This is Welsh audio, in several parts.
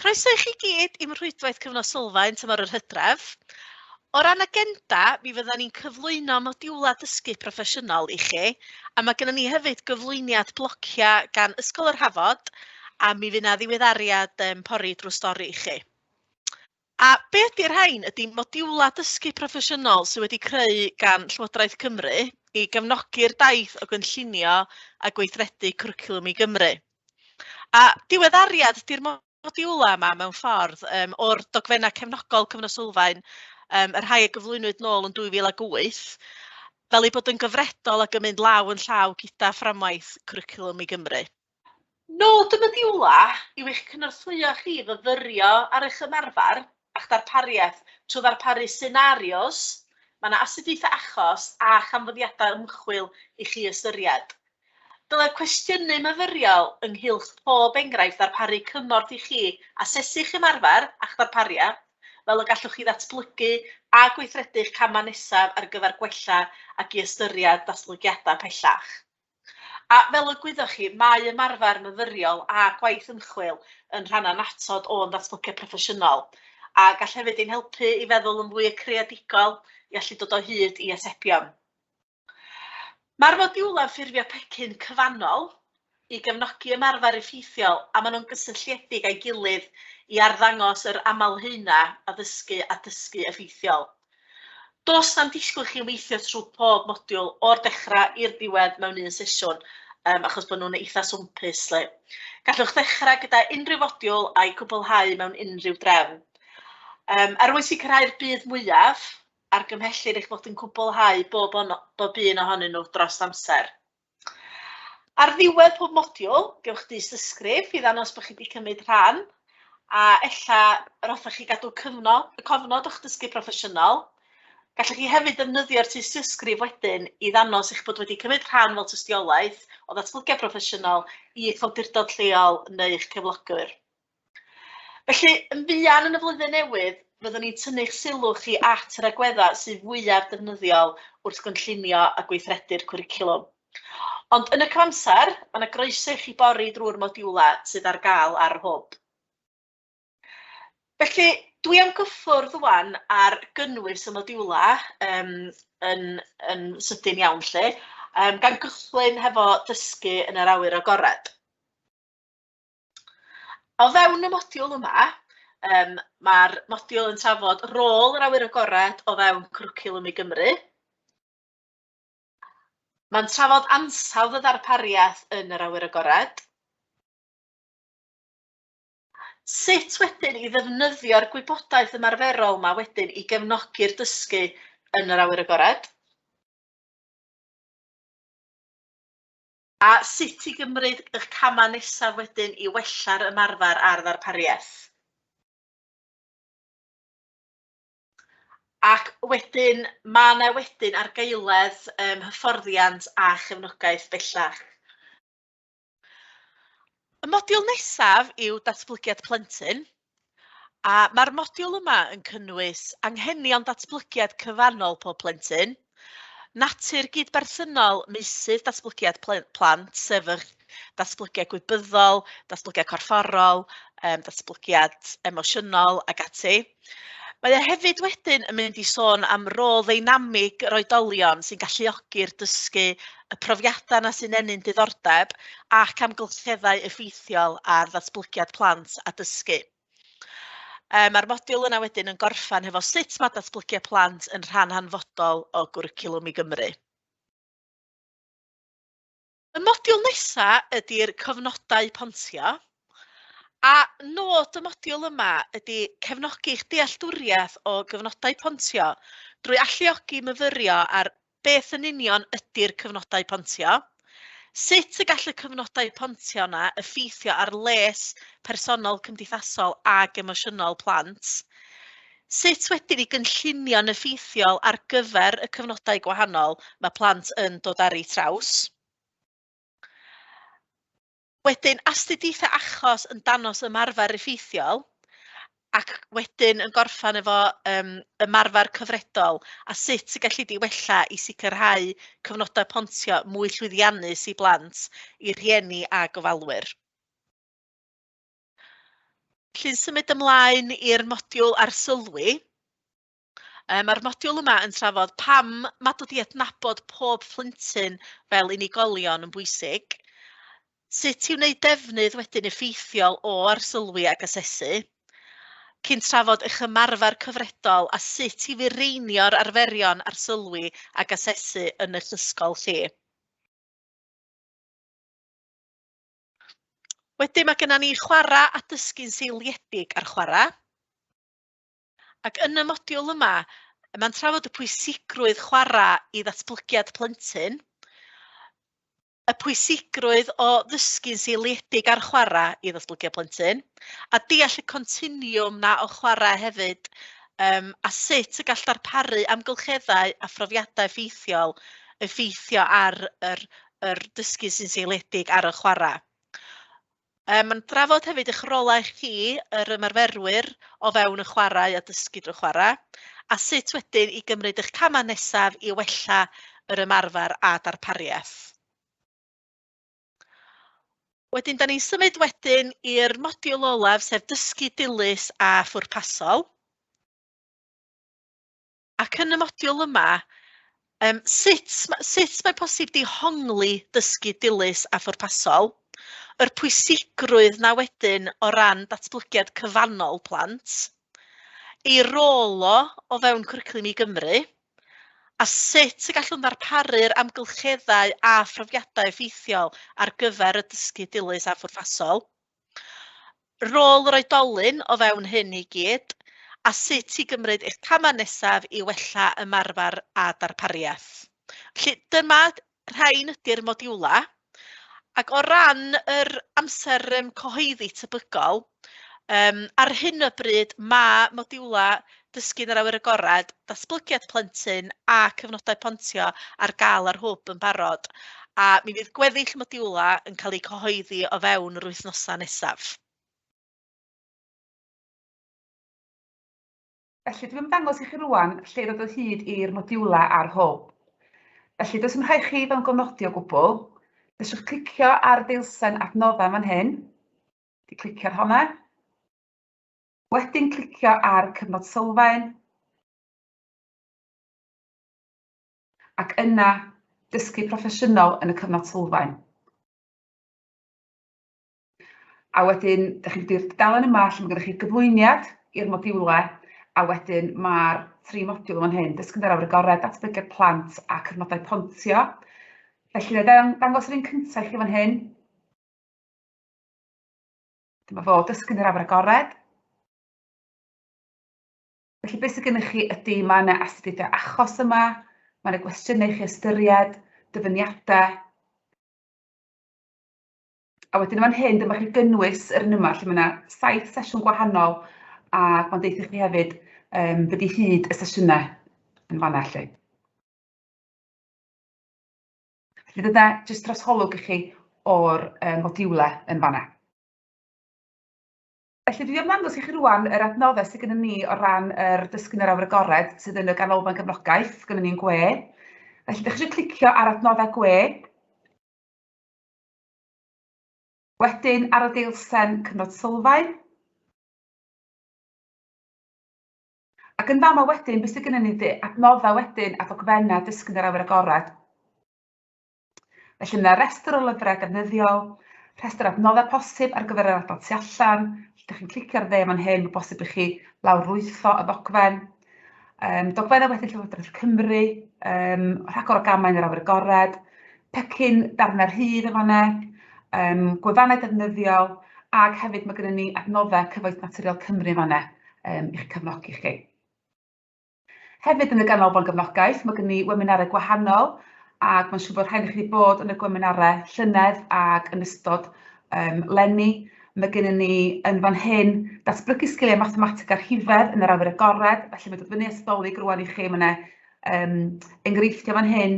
Croeso i chi gyd i'm rhwydwaith Cyfnod Sylfaen tymor yr Hydref. O ran agenda, mi fyddan ni'n cyflwyno modiwlau dysgu proffesiynol i chi, a mae gennym ni hefyd gyflwyniad blociau gan Ysgol yr Hafod, a mi fydd 'na ddiweddariad um, pori drwy stori i chi. A be ydy'r rhain? Ydy modiwlau dysgu proffesiynol sydd wedi creu gan Llywodraeth Cymru i gefnogi'r daith o gynllunio a gweithredu cwricwlwm i Gymru. A diweddariad ydy'r modiwlau yma mewn ffordd um, o'r dogfennau cefnogol Cyfnod Sylfaen, um, y rhai a gyflwynwyd nôl yn 2008, fel ei bod yn gyfredol ac yn mynd law yn llaw gyda fframwaith cwricwlwm i Gymru. Nod y modiwlau yw eich cynorthwyo chi i fyfyrio ar eich ymarfer a'ch darpariaeth trwy ddarparu senarios, mae yna astudiaethau achos a chanfyddiadau ymchwil i chi ystyried. Dylai'r cwestiynau myfyriol ynghylch pob enghraifft ddarparu cymorth i chi asesu'ch ymarfer a'ch ddarpariaeth, fel y gallwch chi ddatblygu a gweithredu'ch camau nesaf ar gyfer gwella ac i ystyried datblygiadau pellach. A, fel y gwyddoch chi, mae ymarfer myfyriol a gwaith ymchwil yn rhan annatod o'n datblygiad proffesiynol, a gall hefyd ein helpu i feddwl yn fwy creadigol, i allu dod o hyd i atebion. Mae'r modiwlau ffurfio pecyn cyfannol i gefnogi ymarfer effeithiol a maen nhw'n gysylltiedig â'i gilydd i arddangos yr aml-haenau addysgu a dysgu effeithiol. Does na'm disgwyl i chi weithio trwy pob modiwl o'r dechrau i'r diwedd mewn un sesiwn, um, achos bod nhw'n eitha swmpus. Le. Gallwch ddechrau gyda unrhyw fodiwl a'i cwblhau mewn unrhyw drefn. Um, er mwyn sicrhau'r bydd mwyaf, argymhellir eich bod yn cwblhau bob, on, bob un ohonyn nhw dros amser. Ar ddiwedd pob modiwl, gewch dystysgrif i ddangos bod chi wedi cymryd rhan, a ella yr hoffech chi gadw cyfnod, y cofnod o'ch dysgu proffesiynol. Gallwch chi hefyd ddefnyddio'r tystysgrif wedyn i ddangos eich bod wedi cymryd rhan fel tystiolaeth o ddatblygiad proffesiynol i'ch awdurdod lleol neu'ch cyflogwr. Felly, yn fuan yn y Flwyddyn Newydd, fyddwn ni'n tynnu'ch sylw chi at yr agweddau sydd fwyaf defnyddiol wrth gynllunio a gweithredu'r cwricwlwm. Ond yn y cyfamser, mae 'na groeso i chi bori drwy'r modiwlau sydd ar gael ar yr hwb. Felly, dwi am gyffwrdd rŵan ar gynnwys y modiwlau um, yn, yn sydyn iawn lle, um, gan gychwyn hefo dysgu yn yr awyr agored. O fewn y modiwl yma, um, mae'r modiwl yn trafod rôl yr awyr agored o fewn cwricwlwm i Gymru. Mae'n trafod ansawdd y ddarpariaeth yn yr awyr agored. Sut wedyn i ddefnyddio'r gwybodaeth ymarferol yma wedyn i gefnogi'r dysgu yn yr awyr agored? A sut i gymryd y camau nesaf wedyn i wella'r ymarfer a'r ddarpariaeth. Ac wedyn, mae yna wedyn argaeledd um, hyfforddiant a chefnogaeth bellach. Y modiwl nesaf yw datblygiad plentyn. A mae'r modiwl yma yn cynnwys anghenion datblygiad cyfannol pob plentyn, natur gyd-berthynol meysydd datblygiad plant, sef yr datblygiad gwybyddol, datblygiad corfforol, um, datblygiad emosiynol ac ati. Mae o hefyd wedyn yn mynd i sôn am rôl ddeinamig yr oedolion sy'n galluogi'r dysgu y profiadau yna sy'n ennyn diddordeb ac amgylcheddau effeithiol ar ddatblygiad plant a dysgu. E, Mae'r modiwl yna wedyn yn gorffan hefo sut mae datblygiad plant yn rhan hanfodol o gwricwlwm i Gymru. Y modiwl nesaf ydy'r cofnodau pontio, a nod y modiwl yma ydy cefnogi'ch dealltwriaeth o gyfnodau pontio drwy alluogi myfyrio ar Beth yn union ydy'r cyfnodau pontio? Sut y gall y cyfnodau pontio yna effeithio ar les personol, cymdeithasol ac emosiynol plant? Sut wedyn i gynllunio'n effeithiol ar gyfer y cyfnodau gwahanol mae plant yn dod ar eu traws? Wedyn, astudiaethau achos yn danos ymarfer effeithiol, ac wedyn yn gorffan efo um, ymarfer cyfredol a sut y gallu di wella i sicrhau cyfnodau pontio mwy llwyddiannus i blant, i rhieni a gofalwyr. Llyn symud ymlaen i'r modiwl arsylwi. Yy ma'r modiwl yma yn trafod pam ma' dod i adnabod pob plentyn fel unigolion yn bwysig, sut i wneud defnydd wedyn effeithiol o arsylwi ac asesu, cyn trafod eich ymarfer cyfredol a sut i fireinio'r arferion arsylwi ac asesu yn eich ysgol chi. Wedyn mae gennym ni chwarae a dysgu'n seiliedig ar chwarae. Ac yn y modiwl yma, mae'n trafod y pwysigrwydd chwarae i ddatblygiad plentyn, y pwysigrwydd o ddysgu'n seiliedig ar chwarae i ddatblygiad plentyn, a deall y continiwm na o chwarae hefyd, um, a sut y gall darparu amgylcheddau a phrofiadau ffeithiol effeithio ar yr, yr dysgu sy'n seiliedig ar y chwarae. Yym yn drafod hefyd eich rolau chi, yr ymarferwyr, o fewn y chwarae a dysgu drwy chwarae, a sut wedyn i gymryd eich camau nesaf i wella yr ymarfer a darpariaeth. Wedyn, da ni'n symud wedyn i'r modiwl olaf, sef dysgu dilys a phwrpasol. Ac yn y modiwl yma, um, sut, sut mae posib dihongli dysgu dilys a phwrpasol, yr pwysigrwydd na wedyn o ran datblygiad cyfannol plant, ei rôl o o fewn cwricwlwm i Gymru, a sut y gallwn ddarparu'r amgylcheddau a phrofiadau effeithiol ar gyfer y dysgu dilys a phwrpasol. Rôl yr oedolyn o fewn hyn i gyd, a sut i gymryd eich camau nesaf i wella ymarfer a darpariaeth. Felly dyma rhain ydy'r modiwlau. Ac o ran yr amser um, cyhoeddi tebygol, um, ar hyn o bryd mae modiwlau Dysgu yn yr Awyr Agored, datblygiad plentyn a cyfnodau pontio ar gael ar Hwb yn barod, a mi fydd gweddill y modiwlau yn cael eu cyhoeddi o fewn yr wythnosau nesaf. Felly, dwi'n ymddangos i chi rŵan lle i ddod o hyd i'r modiwlau ar Hwb. Felly, does dim rhaid chi fod yn gofnodi o gwbl. Fedrwch clicio ar y deilsen adnoddau fan hyn. Di clicio ar honna. wedyn clicio ar Cyfnod Sylfaen, ac yna Dysgu Proffesiynol yn y Cyfnod Sylfaen. A wedyn, dych chi'n mynd i'r dudalen yma lle mae gennych chi gyflwyniad i'r modiwlau, a wedyn mae'r tri modiwl yn hyn, dysgu ar awyr agored, datblygiad plant a cyfnodau pontio. Felly, na i ddangos yr un cyntaf i chi fan hyn. Dyma fo, dysgu'n yr awyr agored. Felly beth sydd gennych chi ydy, mae yna astudiaethau achos yma, mae yna gwestiynau i chi ystyried, dyfyniadau. A wedyn fan hyn, dyma chi gynnwys yr un yma, lle mae yna saith sesiwn gwahanol, a mae'n deitha chi hefyd um, beth i hyd y sesiynau yn fanna lle. Felly dyna jyst trosholwg i chi o'r yym modiwle yn fan'na. Felly dwi am ddangos i chi rŵan yr adnoddau sydd gennym ni o ran yr Dysgu yn yr Awyr Agored sydd yn y Ganolfan Gefnogaeth, gynnon ni'n gwe. Felly dach chi eisiau clicio ar adnoddau gwe. Wedyn ar y deilsen cyfnod sylfaen. Ac yn fama wedyn, be sydd gennym ni ydy adnoddau wedyn a ddogfennau dysgu yn yr awyr agored. Felly mae yna restr o lyfrau defnyddiol, rhestr adnoddau posib ar gyfer yr adnodd tu allan, lle ydych chi'n clicio ar dde fan hyn, mae bosib i chi lawrlwytho y ddogfen. Um, dogfennau wedyn Llywodraeth Cymru, um, rhagor o gamau yn yr awyr agored, pecyn darnau rhydd yn fanna, um, gwefannau defnyddiol, ac hefyd mae gennym ni adnoddau cyfoeth naturiol Cymru yn fanna. yym i'ch cefnogi chi. Hefyd yn y Ganolfan Gefnogaeth mae gen ni weminarau gwahanol ac mae'n siŵr bod rhain i chi wedi bod yn y gweminarau llynedd ac yn ystod um, lenni. Mae gen ni yn fan hyn datblygu sgiliau mathemateg a rhifedd yn yr awyr agored, felly mae dod fyny ysdolig rwan i chi, mae yna um, enghreifftiau fan hyn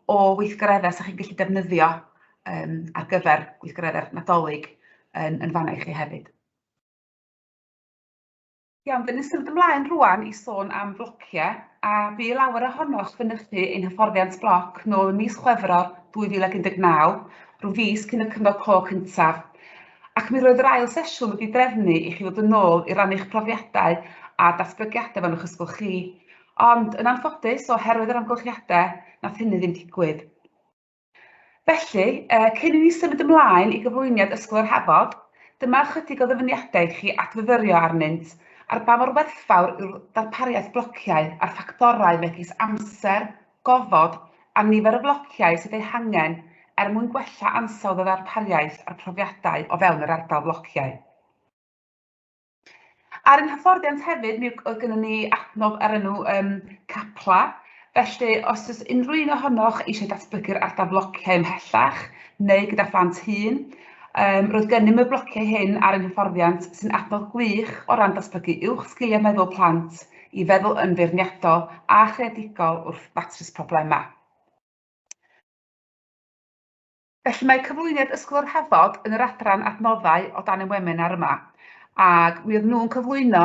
o weithgareddau sy'ch chi'n gallu defnyddio um, ar gyfer gweithgareddau'r Nadolig yn, yn fanna i chi hefyd. Iawn, dyn ni'n symud ymlaen rwan i sôn am flocie, a bu i lawer ohonoch fynychu ein hyfforddiant bloc nôl ym mis Chwefror 2019, rhyw fis cyn y Cyfnod Clo cyntaf. Ac mi roedd yr ail sesiwn wedi drefnu i chi fod yn ôl i rannu'ch profiadau a datblygiadau fan o'ch ysgol chi. Ond, yn anffodus, oherwydd yr amgylchiadau, nath hynny ddim digwydd. Felly, cyn i ni symud ymlaen i gyflwyniad Ysgol yr Hafod, dyma ychydig o ddyfyniadau i chi adfyfyrio arnynt, ar ba mor werthfawr yw'r ddarpariaeth flociau a'r ffactorau megis amser, gofod a nifer y flociau sydd eu hangen er mwyn gwella ansawdd y ddarpariaeth a'r profiadau o fewn yr ardal flociau. Ar ein hyfforddiant hefyd, mi oedd gennym ni adnodd ar enw um, Capla, Felly, os oes unrhyw un ohonoch eisiau datblygu'r ardal flociau ymhellach neu gyda phlant hun, um, roedd gennym y blociau hyn ar ein hyfforddiant sy'n adnodd gwych o ran datblygu uwch sgiliau meddwl plant i feddwl yn feirniadol a chreadigol wrth ddatrys problemau. Felly mae cyflwyniad Ysgol yr Hafod yn yr adran Adnoddau o dan ein wemenar yma, ac mi oedd nhw'n cyflwyno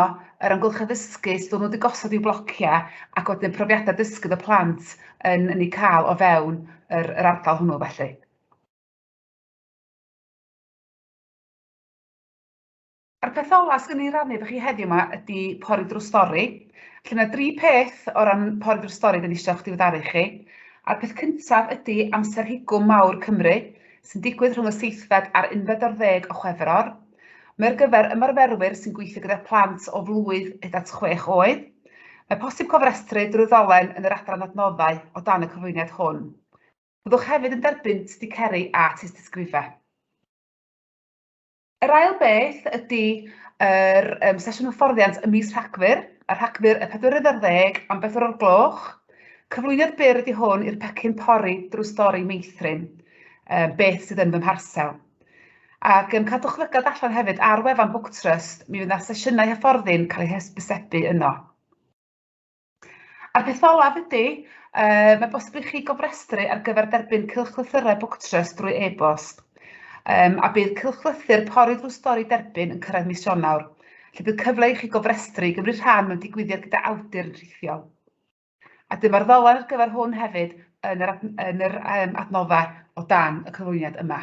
yr amgylchedd ddysgu, sut o'n nhw wedi gosod i'w blociau, ac wedyn profiadau dysgu oedd y plant yn yn eu cael o fewn yr yr ardal hwnnw felly. A'r peth ola swn i'n rannu efo chi heddiw 'ma ydi pori drws stori. Felly mae dri peth o ran pori drws stori dwi eisiau eisiau'ch diweddaru chi. A'r peth cyntaf ydi amser higwm mawr Cymru, sy'n digwydd rhwng y seithfed a'r unfed o'r ddeg o Chwefror. Mae ar gyfer ymarferwyr sy'n gweithio gyda plant o flwydd hyd at chwech oed. Mae posib cofrestru drwy ddolen yn yr adran adnoddau o dan y cyflwyniad hwn. Byddwch hefyd yn derbyn sticeri a tystysgrifau. Yr ail beth ydy yr um, sesiwn hyfforddiant y mis Rhagfyr, a Rhagfyr y 4 ar ddeg am bedwar o'r gloch. Cyflwyniad byr ydy hwn i'r pecyn pori drwy stori meithrin, um, beth sydd yn fy mharsel. Ac um, cadwch lygad allan hefyd ar wefan Book Trust, mi fydd yna sesiynau hyfforddi'n cael eu hysbysebu yno. A'r peth olaf ydy, yy mae bosib i chi gofrestru ar gyfer derbyn cylchlythyrau BookTrust drwy e-bost. Um, a bydd cylchlythyr pori drwy stori derbyn yn cyrraedd mis Ionawr, lle bydd cyfle i chi gofrestru i gymryd rhan mewn digwyddiad gyda awdur yn rhithiol. A dyma'r ddolen ar gyfer hwn hefyd yn yr, yn yr um, adnoddau o dan y cyflwyniad yma.